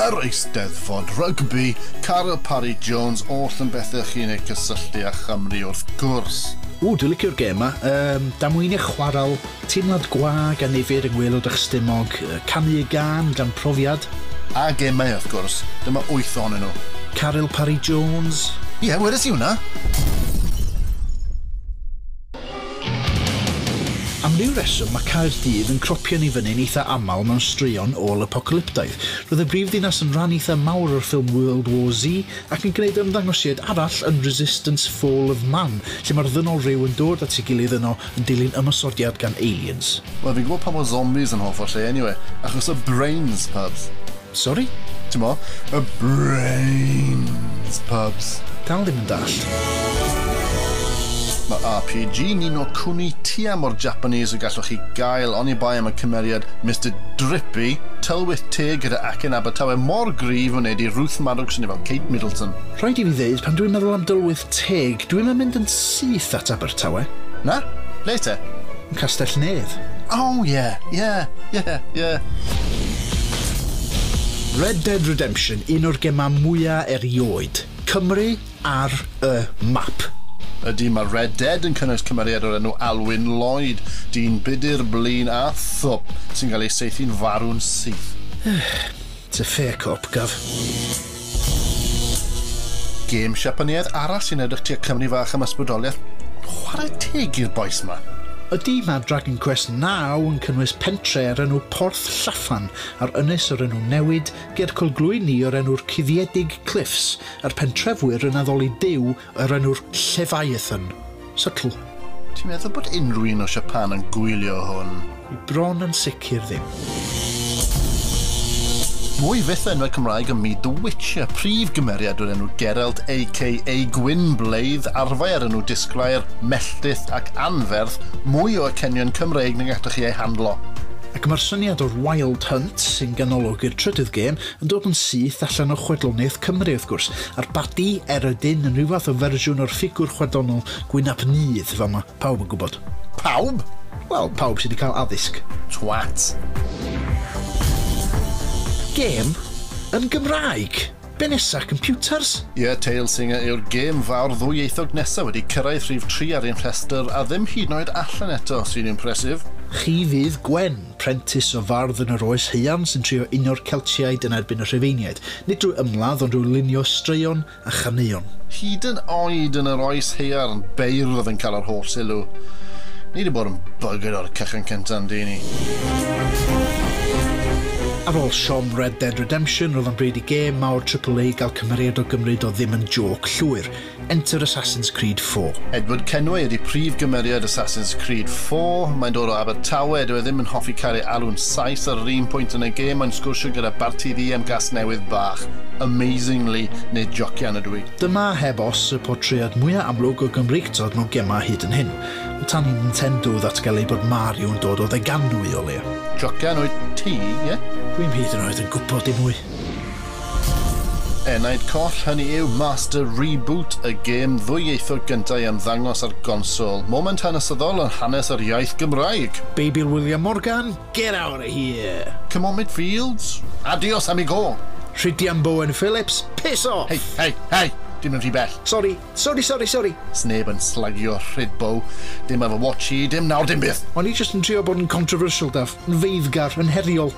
Yr Eisteddfod Rygbi, Carl Parry Jones, oll yn bethau chi'n eu cysylltu â Chymru wrth gwrs. Ww, dwi licio'r gêm 'ma. Yym, damweinia chwarel, teimlad gwag a nifyr yng ngwaelod eich stumog, canu y gân dan profiad. A gemau wrth gwrs, dyma wyth ohonyn nhw. Caryl Parry Jones? Ie, wedes i hwnna! Am ryw reswm mae Caerdydd yn cropio'n ei fyny'n eitha aml mewn straeon ôl-apocalyptaidd. Roedd y brifddinas yn rhan eitha mawr o'r ffilm World War Z ac yn gwneud ymddangosiad arall yn Resistance, Fall of Man lle mae'r ddynol rhyw yn dod at ei gilydd yno yn dilyn ymosodiad gan aliens. Wel fi'n gwybod pam oedd zombies yn hoff o'r lle eniwe, achos y brains, pubs. Sori? T'mo? Y brains, pubs. Dal ddim yn dallt. Mae RPG Ni no Kuni tua mor Japanese a gallwch chi gael oni bai am y cymeriad Mister Drippy, tylwyth teg gyda acen Abertawe mor gryf wneud i Ruth Maddox swnio fel Kate Middleton. Rhaid i fi ddeud, pan dwi'n meddwl am dylwyth teg, Dw i'm yn mynd yn syth at Abertawe. Na? Ble te? Yn Castell-nedd. O, ie, ie, ie, ie. Red Dead Redemption, un o'r gemau mwya' erioed. Cymru ar y map. Ydy, mae Red Dead yn cynnwys cymeriad o'r enw Alwyn Lloyd, dyn budr, blin a thwp sy'n cael ei saethu'n farw'n syth. It's a fair cop, Gov. Gêm Siapaneaidd arall sy'n edrych tua Cymru fach am ysbrydoliaeth, chwarae teg i'r bois 'ma. Ydi, mae Dragon Quest naw yn cynnwys pentre o'r enw Porth Llafan a'r ynys o'r enw Newid, ger Colglwyni o'r enw'r Cuddiedig Cliffs, a'r pentrefwyr yn addoli duw Yr enw'r Llefaethan. Subtle. Ti'n meddwl bod unrhyw un o Siapan yn gwylio hwn? Dwi bron yn sicr ddim. Mwy fyth o enwau Cymraeg ym myd The Witcher. Prif gymeriad yw'r enw Geralt aka Gwyn Blaidd, arfau a'r enw Disglair, Melltith ac Anferth, mwy o acenion Cymreig na gallech chi eu handlo. Ac mae'r syniad o'r Wild Hunt, sy'n ganolog i'r trydydd gêm, yn dod yn syth allan o chwedloniaeth Cymru, wrth gwrs, a'r badi er y dyn yn rhyw fath o fersiwn o'r ffigwr chwedlonol gwyn-ap-nudd, fel mae pawb yn gwybod. Pawb? Wel, pawb sydd wedi cael addysg. Twat. Gêm? Yn Gymraeg? Be nesa, computers? Ie, Tail Singer yw'r gêm fawr ddwyieithog nesa wedi cyrraedd rhif tri ar ein rhestr, a ddim hyd yn oed allan eto, sy'n impressive. Chi fydd Gwen. Prentis o fardd yn yr Oes Haearn sy'n trio unio'r Celtiaid yn erbyn y Rhufeiniaid, nid drwy ymladd ond drwy lunio straeon a chaneuon. Hyd yn oed yn yr Oes Haearn, beirdd oedd yn cael yr holl sylw. Ni 'di bod yn buggered o'r cychwyn cynta yn du ni. Ar ôl siom Red Dead Redemption, roedd o'n bryd i gêm mawr Triple-A gael cymeriad o gymryd o ddim yn jôc llwyr. Enter Assassin's Creed iv. Edward Kenway ydy prif gymeriad Assassin's Creed iv. Mae'n dod o Abertawe, dyw e ddim yn hoffi cael ei alw'n Sais ar yr un pwynt yn y gêm, mae'n sgwrsio gyda Barti Ddu am Gasnewydd bach, amazingly, neu jocian ydw i? Dyma heb os y portread mwya amlwg o Gymreictod mewn gemau hyd yn hyn. O tan i Nintendo ddatgelu ei bod Mario yn dod o Ddeganwy o leia. Jocian wyt ti, ie? Dwi'm hyd yn oed yn gwybod dim mwy. Enaid coll hynny yw Master Reboot, y gêm ddwyieithog gyntaf i ymddangos ar gonsol. Moment hanesyddol yn hanes yr iaith Gymraeg! Beibil William Morgan, Get out of here! Come on Midfields, Adios amigo! Rhydian Bowen Phillips, Piss off! Hei, hei, hei! Dim yn rhy bell! Sori, sori, sori, sori! Sneb yn slagio Rhydbow, dim efo watch i, dim nawr, dim byth! O'n i jyst yn trio bod yn controversial, Daf, yn feiddgar, yn heriol.